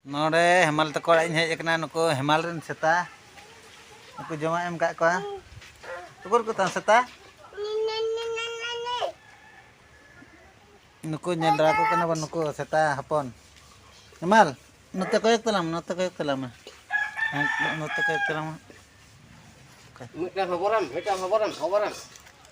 ᱱᱚᱰᱮ ᱦᱮᱢᱟᱞ ᱛᱟᱠᱚ ᱚᱲᱟᱜ ᱤᱧ ᱦᱮᱡ ᱟᱠᱟᱱᱟ ᱱᱩᱠᱩ ᱦᱮᱢᱟᱞ ᱨᱮᱱ ᱥᱮᱛᱟ ᱱᱩᱠᱩ ᱡᱚᱢᱟᱜ ᱮᱢ ᱠᱟᱜ ᱠᱚᱣᱟ ᱩᱠᱩᱨ ᱠᱚ ᱛᱟᱢ ᱥᱮᱛᱟ ᱱᱩᱠᱩ ᱧᱮᱞ ᱫᱟᱲᱟ ᱠᱚ ᱠᱟᱱᱟ ᱵᱚᱱ ᱱᱩᱠᱩ ᱥᱮᱛᱟ ᱦᱚᱯᱚᱱ ᱦᱮᱢᱟᱞ ᱱᱚᱛᱮ ᱠᱚᱭᱚᱜ ᱛᱟᱞᱟᱝ ᱱᱚᱛᱮ ᱠᱚᱭᱚᱜ ᱛᱟᱞᱟᱝ ᱢᱮ ᱱᱚᱛᱮ ᱠᱚᱭᱚᱜ ᱛᱟᱞᱟᱝ ᱢᱮ ᱢᱤᱫᱴᱟᱝ ᱦᱚᱵᱚᱨᱟᱢ ᱢᱤᱫᱴᱟᱝ ᱦᱚᱵᱚᱨᱟᱢ ᱦᱚᱵᱚᱨᱟᱢ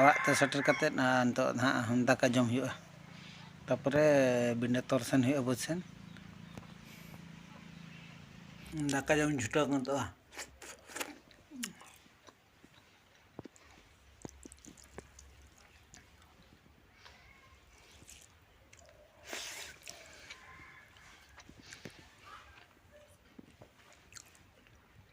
ᱚᱲᱟᱜ ᱛᱮ ᱥᱮᱴᱮᱨ ᱠᱟᱛᱮᱫ ᱱᱤᱛᱚᱜ ᱱᱟᱦᱟᱜ ᱫᱟᱠᱟ ᱡᱚᱢ ᱦᱩᱭᱩᱜᱼᱟ ᱛᱟᱯᱚᱨᱮ ᱵᱤᱱᱟᱹ ᱛᱚᱞ ᱥᱮᱱ ᱦᱩᱭᱩᱜᱼᱟ ᱵᱟᱹᱫᱽ ᱥᱮᱱ ᱫᱟᱠᱟ ᱡᱚᱢ ᱪᱷᱩᱴᱟᱹᱣ ᱜᱚᱫᱚᱜᱼᱟ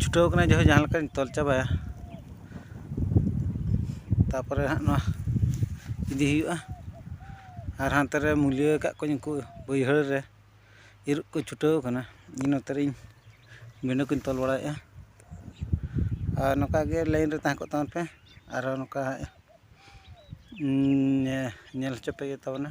ᱪᱷᱩᱴᱟᱹᱣ ᱠᱟᱱᱟ ᱡᱟᱭᱦᱳᱠ ᱡᱟᱦᱟᱸ ᱞᱮᱠᱟᱧ ᱛᱚᱞ ᱪᱟᱵᱟᱭᱟ ᱛᱟᱨᱯᱚᱨᱮ ᱦᱟᱸᱜ ᱱᱚᱣᱟ ᱤᱫᱤ ᱦᱩᱭᱩᱜᱼᱟ ᱟᱨ ᱦᱟᱱᱛᱮ ᱨᱮ ᱢᱩᱞᱭᱟᱹ ᱟᱠᱟᱫ ᱠᱚᱣᱟᱧ ᱩᱱᱠᱩ ᱵᱟᱹᱭᱦᱟᱹᱲ ᱨᱮ ᱤᱨᱚᱜ ᱠᱚ ᱪᱷᱩᱴᱟᱹᱣ ᱠᱟᱱᱟ ᱤᱧ ᱱᱚᱛᱮ ᱨᱮ ᱵᱤᱸᱰᱟᱹ ᱠᱚᱧ ᱛᱚᱞ ᱵᱟᱲᱟᱭᱮᱫᱼᱟ ᱟᱨ ᱱᱚᱝᱠᱟ ᱜᱮ ᱞᱟᱭᱤᱱ ᱨᱮ ᱛᱟᱦᱮᱸ ᱠᱚᱜ ᱛᱟᱵᱚᱱ ᱯᱮ ᱟᱨᱚ ᱱᱚᱝᱠᱟ ᱧᱮᱞ ᱦᱚᱪᱚ ᱯᱮ ᱦᱩᱭᱩᱜ ᱛᱟᱵᱚᱱᱟ